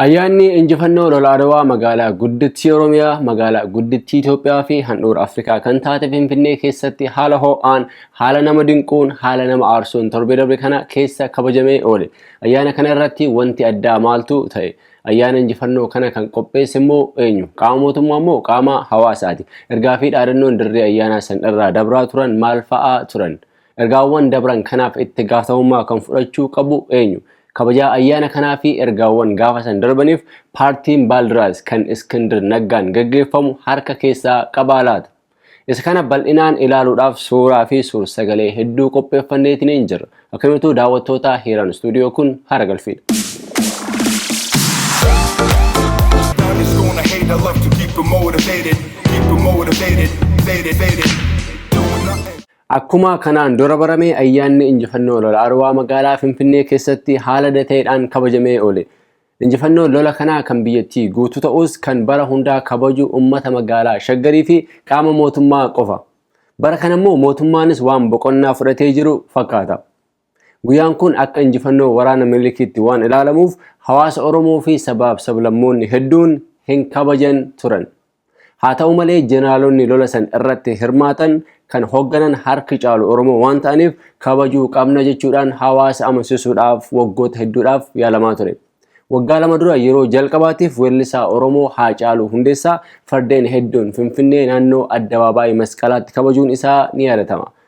Ayyaanni injifannoo lola Adwaa magaalaa guddittii Oromiyaa, magaalaa guddittii Itoophiyaa fi handhuura Afrikaa kan taate Finfinnee keessatti haala ho'aan, haala nama dinquun, haala nama aarsuun torbee darbe kana keessa kabajamee oole. Ayyaana kana irratti wanti addaa maaltu ta'e? Ayyaana injifannoo kana kan qopheesse immoo eenyu? Qaama mootummaa immoo qaama hawaasaati. Ergaa fi dhaadannoon dirree ayyaanaa san irraa dabraa turan maal fa'aa turan? Ergaawwan dabran kanaaf itti gaafatamummaa kan fudhachuu qabu eenyu? Kabajaa ayyaana kanaa fi ergaawwan gaafa san darbaniif paartiin Baaldiraas kan Iskindir Naggaan gaggeeffamu harka keessaa qabaa laata? Isa kana bal'inaan ilaaluudhaaf suuraa fi suur-sagalee hedduu qopheeffanneetiniin jirra. Akkamituu daawwattootaa Hiiraan Istuudiyoo kun haara galfiidha. None is gonna hate. I love to keep it motivated, keep it motivated, faded, faded. Doing nothing. Akkuma kanaan dura barame ayyaanni injifannoo lola Adwaa magaalaa Finfinnee keessatti haala adda ta'eedhaan kabajamee oole. Injifannoon lola kanaa kan biyyattii guutuu ta'us kan bara hundaa kabaju ummata magaalaa Shaggarii fi qaama mootummaa qofa. Bara kana immoo mootummaanis waan boqonnaa fudhatee jiru fakkaata. Guyyaan kun akka injifannoo waraana Minilikiitti waan ilaalamuuf hawaasa Oromoo fi sabaaf sablammoonni hedduun hin kabajan turan. Haa ta'u malee jeneraalonni lola san irratti hirmaatan kan hogganan harki caalu Oromoo waan ta'aniif kabajuu qabna jechuudhaan hawaasa amansiisuudhaaf waggoota hedduudhaaf yaalamaa ture. Waggaa lama dura yeroo jalqabaatiif weellisaa Oromoo Haacaaluu Hundeessaa fardeen hedduun Finfinnee naannoo Addabaabaayii Masqalaatti kabajuun isaa ni yaadatama.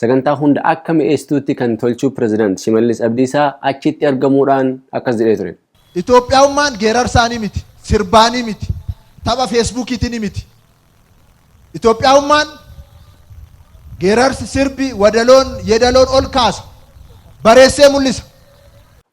Sagantaa hunda akka mi'eessituutti kan tolchuu Pireezidaant Shimallis Abdiisaa achitti argamuudhaan akkas jedhee ture. Itoophiyaummaan geerarsaanii miti, sirbaanii miti, tapha feesbuukiitini miti. Itoophiyaummaan geerarsi, sirbi, wadaloon, yedaloon ol kaasa, bareessee mul'isa.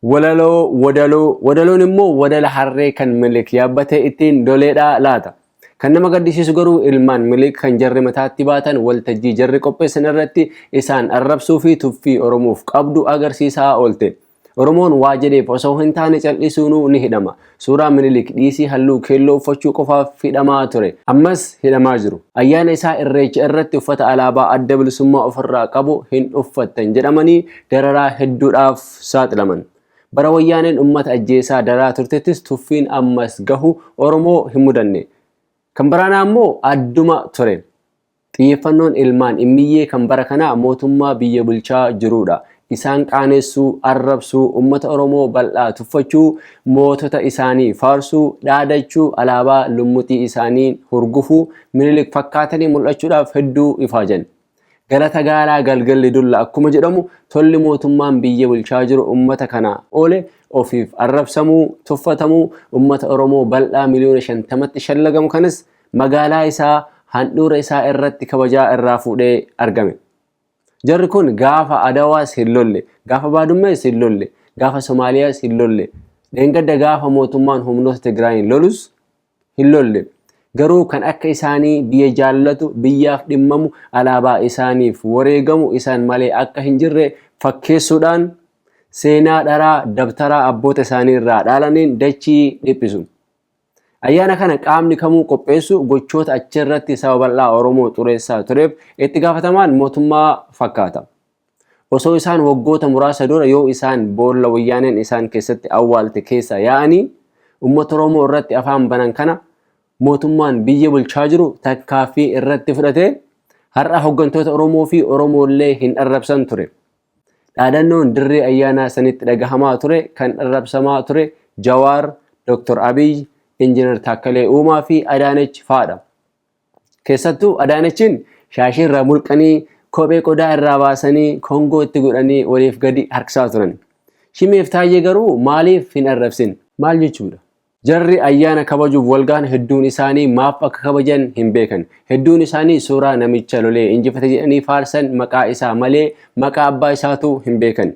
Walaloo, wadaloo, wadaloon immoo wadala harree kan Minilik yaabbate ittiin doleedhaa laata? Kan nama gaddisiisu garuu ilmaan Miliik kan jarri mataatti baatan waltajjii jarri qopheessan irratti isaan arrabsuu fi tuffii Oromoof qabdu agarsiisaa oolte. Oromoon waa jedheef osoo hin taane cal'isuunuu ni hidhama. Suuraa Minilik dhiisii halluu keelloo uffachuu qofaaf hidhamaa ture. Ammas hidhamaa jiru. Ayyaana isaa Irreecha irratti uffata alaabaa Adda Bilisummaa ofirraa qabu hin uffattan jedhamanii dararaa hedduudhaaf saaxilaman. Bara Wayyaaneen ummata ajjeesaa daraa turtettis tuffiin ammas gahu Oromoo hin mudanne. Kan baraanaa immoo adduma ture. Xiyyeeffannoon ilmaan Immiyyee kan bara kanaa mootummaa biyya bulchaa jiruudha. Isaan qaanessuu, arrabsuu, ummata Oromoo bal'aa tuffachuu, mootota isaanii faarsuu, dhaadachuu, alaabaa lummuxii isaanii hurgufuu, Minilik fakkaatanii mul'achuudhaaf hedduu ifaajani. Galata gaalaa galgalli dulla akkuma jedhamu tolli mootummaan biyya bulchaa jiru ummata kana oole ofiif arrabsamuu, tuffatamuu ummata Oromoo bal'aa miliyoona shantamatti shallagamu kanas magaalaa isaa handhuura isaa irratti kabajaa irraa fuudhee argame. Jarri kun gaafa Adawaas hin lolle, gaafa Baadummees hin lolle, gaafa Somaaliyaas hin lolle, dheengadda gaafa mootummaan humnoota Tigraayiin lolus hin lolle. Garuu kan akka isaanii biyya jaallatu, biyyaaf dhimmamu, alaabaa isaaniif wareegamu isaan malee akka hin jirre fakkeessuudhaan seenaa dharaa dabtaraa abboota isaanii irraa dhaalaniin dachii dhiphisu. Ayyaana kana qaamni kamuu qopheessu gochoota achirratti saba bal'aa Oromoo xureessaa tureef itti gaafatamaan mootummaa fakkaata. Osoo isaan waggoota muraasa dura yoo isaan boolla wayyaaneen isaan keessatti awwaalte keessaa yaa'anii ummata Oromoo irratti afaan banan kana mootummaan biyya bulchaa jiru takkaaffii irratti fudhatee har'a hoggantoota Oromoo fi Oromoollee hin arrabsan ture. Dhaadannoon dirree ayyaanaa sanitti dhagahamaa ture kan arrabsamaa ture Jawaar, Dr. Abiy, Injinar Taakkalee Uumaa fi Adaanech faadha. Keessattuu Adaanechiin shaashii irraa mulqanii, kophee qodaa irraa baasanii, kongoo itti godhanii oliif gadi harkisaa turan. Shimeef Taayyee garuu maaliif hin arrabsin? Maal jechuudha? Jarri ayyaana kabajuuf walgahan hedduun isaanii maaf akka kabajan hin beekan. Hedduun isaanii suuraa namicha lolee injifate jedhanii faarsan maqaa isaa malee maqaa abbaa isaatuu hin beekan.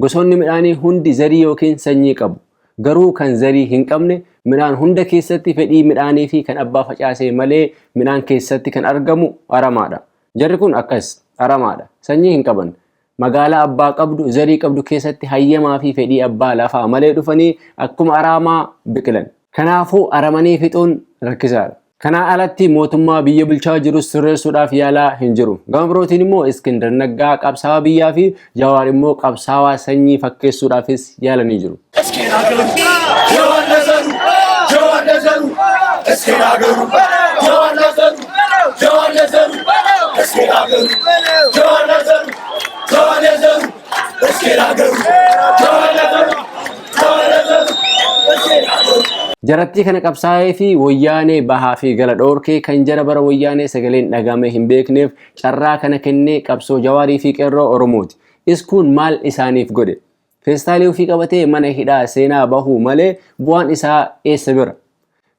Gosoonni midhaanii hundi zarii ykn sanyii qabu. Garuu kan zarii hin qabne midhaan hunda keessatti fedhii midhaanii fi kan abbaa facaasee malee midhaan keessatti kan argamu aramaa dha. Jarri kun akkas, aramaa dha. Sanyii hin qaban. Magaalaa abbaa qabdu, zarii qabdu keessatti hayyamaa fi fedhii abbaa lafaa malee dhufanii akkuma araamaa biqilan. Kanaafuu aramanii fixuun rakkisaa dha. Kanaa alatti mootummaa biyya bulchaa jirus sirreessuudhaaf yaalaa hin jiru. Gama birootiin immoo Iskindar Naggaa qabsaawaa biyyaa fi Jawaar immoo qabsaawaa sanyii fakkeessuudhaafis yaalanii jiru. Iskindar Naggaa. Jarattii kana qabsaa'ee fi woyyaanee bahaa fi gala dhoorkee kan jara bara woyyaanee sagaleen dhagaamee hin beekneef carraa kana kennee qabsoo Jawaarii fi Qerroo Oromooti. Iskuun maal isaaniif godhe? Feestaalii ofii qabatee mana hidhaa seenaa bahuu malee bu'aan isaa eessa bira?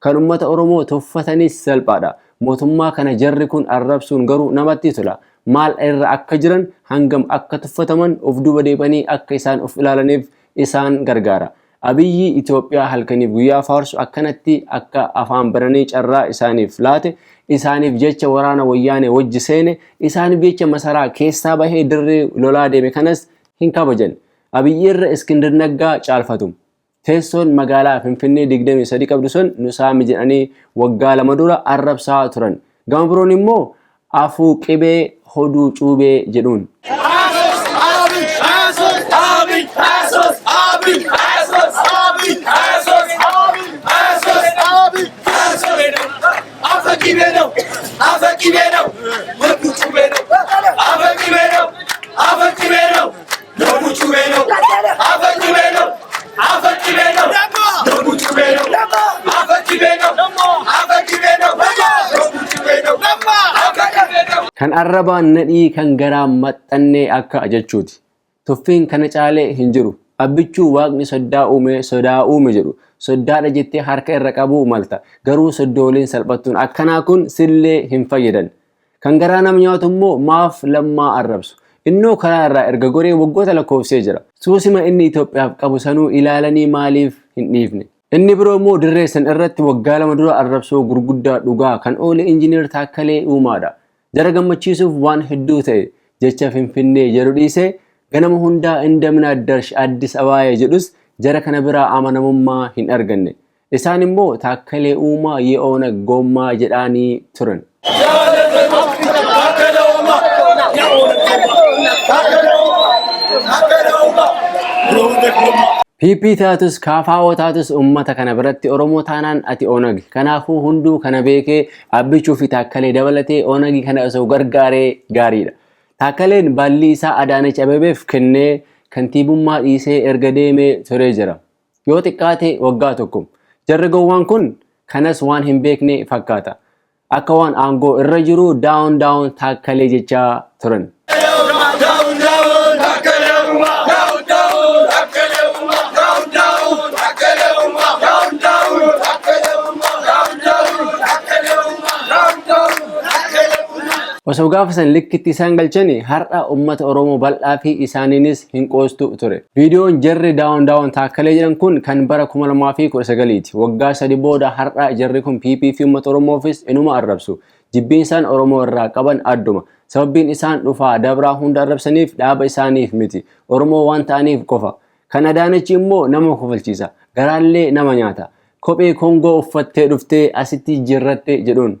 Kan ummata Oromoo tuffatanis salphaadha. Mootummaa kana jarri kun arrabsuun garuu namatti tola. Maal irra akka jiran, hangam akka tuffataman, of duuba deeb'anii akka isaan of ilaalaniif isaan gargaara. Abiyyi Itoophiyaa halkaniif guyyaa faarsu akkanatti akka afaan bananii carraa isaaniif laate, isaaniif jecha waraana Wayyaanee wajji seene, isaaniif jecha masaraa keessaa bahee dirree lolaa deeme kanas hin kabajan. Abiyyi irra Iskindir Naggaa caalfatu. Teessoon magaalaa Finfinnee 23 qabdu sun nu saami jedhanii waggaa lama dura arrabsaa turan. Gama biroon immoo afuu qibee hoduu cuubee jedhuun. Kan arrabaan nadhii kan garaan maxxannee akka jechuuti. Tuffiin kana caalee hin jiru. Abbichuu waaqni soddaa uume sodaa uume jedhu. Soddaadha jettee harka irra qabuu malta. Garuu soddooleen salphattuun akkanaa kun sillee hin fayyadan. Kan garaa nama nyaatu immoo maaf lammaa arrabsu? Innoo karaa irraa erga goree waggoota lakkoofsee jira. Suusima inni Itoophiyaaf qabu sanuu ilaalanii maaliif hin dhiifne? Inni biroo immoo dirree san irratti waggaa lama dura arrabsoo gurguddaa dhugaa kan oole Injiniir Taakkalee Uumaadha. Jara gammachiisuuf waan hedduu ta'e jecha Finfinnee jedhu dhiisee ganama hundaa Indamin Addarsh Addis Abaaye jedhus jara kana biraa amanamummaa hin arganne. Isaan immoo Taakkalee Uumaa ye Oonag Gommaa jedhaanii turan. PP taatus KFO taatus uummata kana biratti Oromoo taanaan ati Oonag. Kanaafuu hunduu kana beekee Abbichuu fi Taakkalee dabalatee Oonagii kana osoo gargaaree gaariidha. Taakkaleen baallii isaa Adaanech Abebeef kennee kantiibummaa dhiisee erga deemee turee jira. Yoo xiqqaate waggaa tokko. Jarri gowwaan kun kanas waan hin beekne fakkaata. Akka waan aangoo irra jiru daawon daawon taakkalee jechaa turan. Osoo gaafa san likkitti isaan galchani har'a ummata Oromoo bal'aa fi isaaniinis hin qoostu ture. Viidiyoon jarri daawon daawon taakkalee jedhan kun kan bara 2019ti. Waggaa sadi booda har'a jarri kun PP fi uummata Oromoofis inuma arrabsu. Jibbiinsaan Oromoo irraa qaban adduma. Sababbiin isaan dhufaa dabraa hunda arrabsaniif dhaaba isaaniif miti. Oromoo waan ta'aniif qofa. Kan Adaanachi immoo nama kofalchiisa. Garaallee nama nyaata. Kophee Kongoo uffattee dhuftee asitti jijjiirratte jedhuun.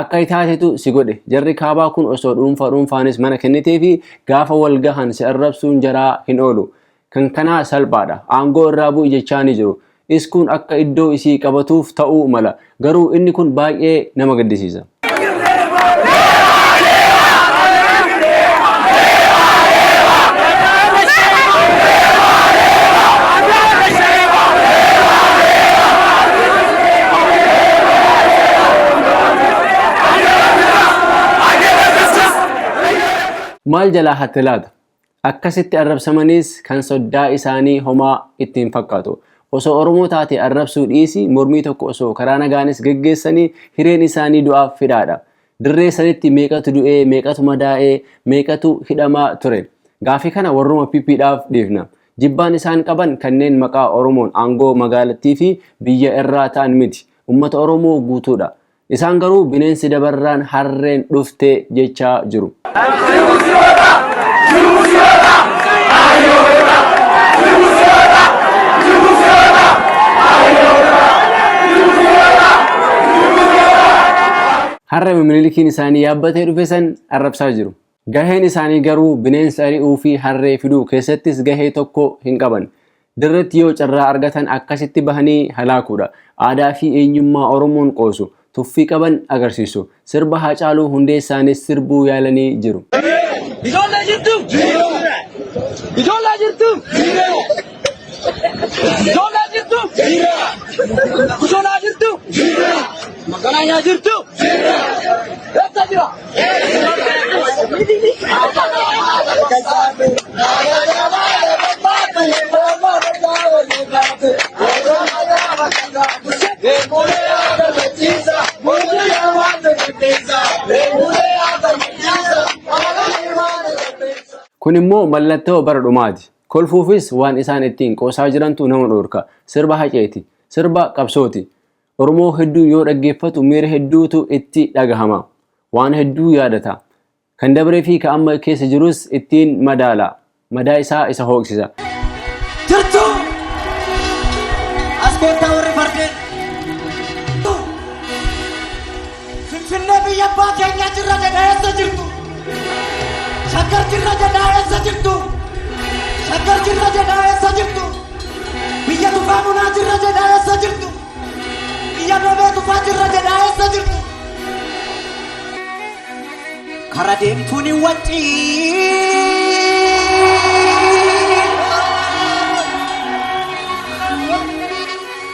Akka itaatetu si godhe. Jarri kaabaa kun osoo dhuunfa dhuunfaanis mana kenniteefi gaafa wal gahan si arrabsuun jaraa hin oolu. Kan kanaa salphaadha. Aangoo irraa bu'i jechaanii jiru. Iskuun akka iddoo isii qabatuuf ta'uu mala. Garuu inni kun baay'ee nama gaddisiisa. Maal jalaa hatte laata? Akkasitti arrabsamaniis kan soddaa isaanii homaa itti hin fakkaatu. Osoo Oromoo taate arrabsuu dhiisii mormii tokko osoo karaa nagaanis geggeessanii hireen isaanii du'aaf fidhaadha. Dirree sanitti meeqatu du'ee, meeqatu madaa'ee, meeqatu hidhamaa ture? Gaaffii kana warruma PP dhaaf dhiifna. Jibbaan isaan qaban kanneen maqaa Oromoon aangoo magaalattii fi biyya irraa ta'an miti. Ummata Oromoo guutuu dha. Isaan garuu bineensi dabarraan harreen dhufte jechaa jiru. Har'a Minilikiin isaanii yaabbatee dhufe san arrabsaa jiru. Gaheen isaanii garuu bineensa ari'uu fi harree fiduu keessattis gahee tokko hin qaban. Dirreetti yoo carraa argatan akkasitti bahanii halaakuudha. Aadaa fi eenyummaa Oromoon qoosu, tuffii qaban agarsiisu. Sirba Haacaaluu Hundeessaanis sirbuu yaalanii jiru. Ijoollee jirtu! Ijoollee jirtu! Ijoollee jirtu! Kushonaa jirtu! Magaalaa jirtu! Eessa jira? Kun immoo mallattoo bara dhumaati. Kolfuufis waan isaan ittiin qoosaa jirantu nama dhoorka. Sirba haceeti. Sirba qabsooti. Oromoo hedduu yoo dhaggeeffatu miira hedduutu itti dhagahama. Waan hedduu yaadata. Kan dabree fi ka amma keessa jirus ittiin madaala. Madaa isaa isa hooqsisa. Jirtu! As koottaa warri fardeen! Finfinnee biyya abbaa keenyaa jirra jedha eessa jirtu? Shaggar jirra jedha eessa jirtu? Shaggar jirra jedha eessa jirtu? Biyya tufaa munaa jirra jedha eessa jirtu? Biyya beebee tufaa jirra jedha eessa jirtu? Kara deemtuun hin waccii.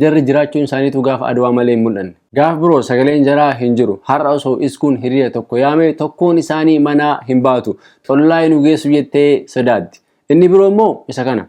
Jarri jiraachuun isaaniituu gaafa Adwaa malee hin mul'anne. Gaaf biroo sagaleen jaraa hin jiru. Har'a osoo Iskuun hiriya tokko yaame tokkoon isaanii manaa hin baatu. Xollaayi nu geessu jettee sodaatti. Inni biroo immoo isa kana.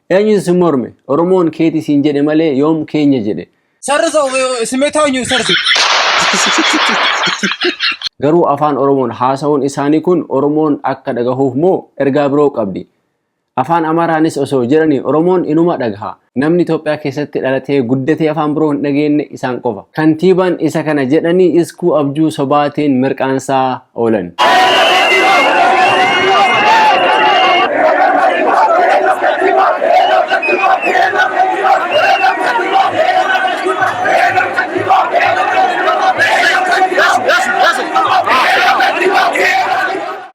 Eenyutu si morme? Oromoon keeti siin jedhe malee yoom keenya jedhe. Sarrisa simeetaa eenyu sarrisi. Garuu afaan Oromoon haasa'uun isaanii kun Oromoon akka dhagahuuf moo ergaa biroo qabdi? Afaan Amaaraanis osoo jedhanii Oromoon inuma dhagaha. Namni Itoophiyaa keessatti dhalatee guddatee afaan biroo hin dhageenne isaan qofa. Kantiibaan isa kana jedhanii Iskuu Abjuu sobaatiin mirqaansaa. oolan.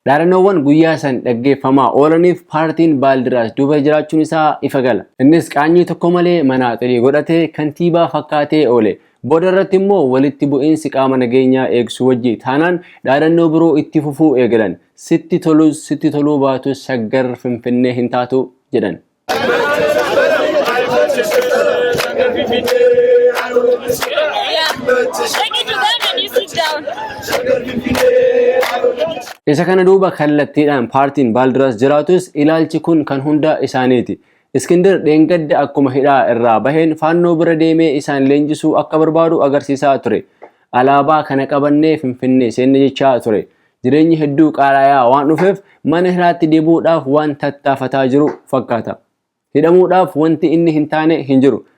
Dhaadannoowwan guyyaa san dhaggeeffamaa oolaniif paartiin Baaldiraas duuba jiraachuun isaa ifa gala. Innis qaanyii tokko malee manaaxirii godhatee kantiibaa fakkaatee oole. Booda irratti immoo walitti bu'iinsi qaama nageenyaa eegsu wajji taanaan dhaadannoo biroo itti fufuu eegalan. Sitti tolus sitti toluu baatus Shaggar Finfinnee hin taatu jedhan. Isa kana duuba kallattiidhaan paartiin Baaldiras jiraatus ilaalchi kun kan hunda isaaniiti. Iskindir dheengadda akkuma hidhaa irraa baheen faannoo bira deemee isaan leenjisuu akka barbaadu agarsiisaa ture. Alaabaa kana qabannee Finfinnee seenne jechaa ture. Jireenyi hedduu qaalayaa waan dhufeef mana hidhaatti deebi'uudhaaf waan tattaafataa jiru fakkaata. Hidhamuudhaaf wanti inni hin taane hin jiru.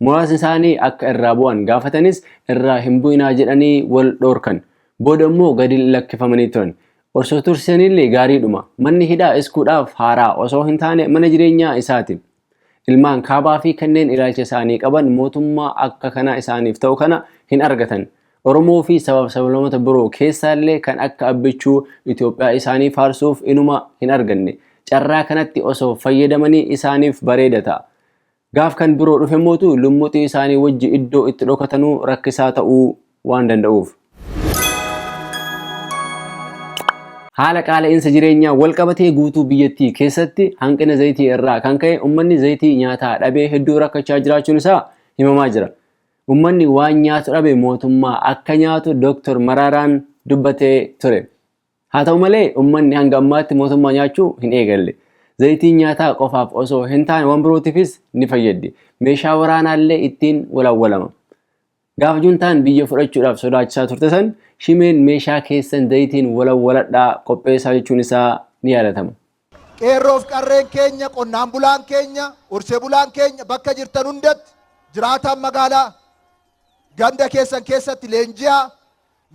Muraasni isaanii akka irraa bu'an gaafatanis irraa hin bu'inaa jedhanii wal dhoorkan. Booda immoo gadi lakkifamanii turan. Osoo tursisanillee gaariidhuma. Manni hidhaa iskuudhaaf haaraa osoo hin taane mana jireenyaa isaati. Ilmaan kaabaa fi kanneen ilaalcha isaanii qaban mootummaa akka kanaa isaaniif ta'u kana hin argatan. Oromoo fi sabaaf sablamota biroo keessaallee kan akka abbichuu Itoophiyaa isaanii faarsuuf inuma hin arganne. Carraa kanatti osoo fayyadamanii isaaniif bareeda ta'a. Gaaf kan biroo dhufemmootu lummuxii isaanii wajji iddoo itti dhokatanu rakkisaa ta'uu waan danda'uuf. Haala qaala'iinsa jireenyaan walqabatee guutuu biyyattii keessatti hanqina zayitii irraa kan ka'e ummanni zayitii nyaataa dhabee hedduu rakkachaa jiraachuun isaa himamaa jira. Ummanni waan nyaatu dhabe mootummaa akka nyaatu Doktar Maraaraan dubbatee ture. Haa ta'u malee ummanni hanga ammaatti mootummaa nyaachuu hin eegalle. Zayitiin nyaataa qofaaf osoo hin taane waan birootifis ni fayyaddi. Meeshaa waraanaallee ittiin walawwalama. Gaafa juntaan biyya fudhachuudhaaf sodaachisaa turte san Shimeen meeshaa keessan zayitiin walawwaladhaa qopheessaa jechuun isaa ni yaadatama. Qeerroof qarreen keenya, qonnaan bulaan keenya, horsee bulaan keenya bakka jirtan hundatti jiraataan magaalaa ganda keessan keessatti leenji'aa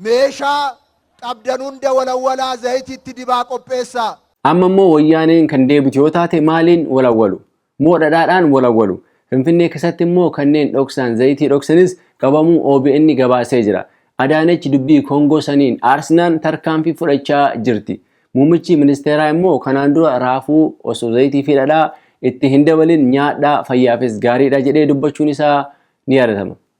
meeshaa qabdan hunda walawwalaa zayitiitti dibaa qopheessaa. Amma immoo Wayyaaneen kan deebitu yoo taate maaliin walawwalu? Moo dhadhaadhaan wal awwalu? Finfinnee keessatti immoo kanneen dhoksaan zayitii dhoksanis qabamuu obn gabaasee jira. Adaanech dubbii Koongoo saniin aarsnaan tarkaanfii fudhachaa jirti. Muummichi ministeeraa immoo kanaan dura raafuu osoo zayitii fi dhadhaa itti hin dabalin nyaadhaa fayyaafis gaariidha jedhee dubbachuun isaa ni yaadatama.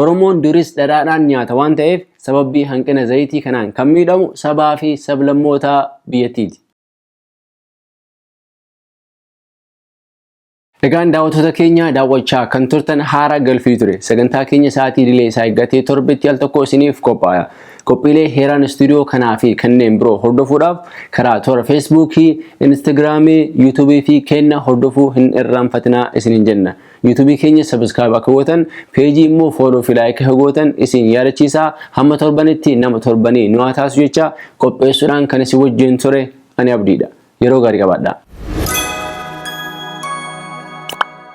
Oromoon duris dhadhaadhaan nyaata waan ta'eef sababbii hanqina zayitii kanaan kan miidhamu sabaa fi sablammoota biyyattiiti. Egaan daawwattoota keenya daawwachaa kan turtan haara galfii ture. Sagantaa keenya sa'aatii idilee isaa eeggatee torbetti al tokko isiniif qophaaya. Qophiilee heeraan istuudiyoo kanaa fi kanneen biroo hordofuudhaaf karaa toora Feesbuukii, Instagiraamii, Yuutuubii fi keenna hordofuu hin irraanfatinaa isiniin jenna. YouTube keenya subscribe akka gootan page immoo follow fi like akka gootan isin yaadachiisa hamma torbanitti nama torbanii nu haa taasisu jecha qopheessuudhaan kan isin wajjin ture ani abdiidha yeroo gaarii qabaadha.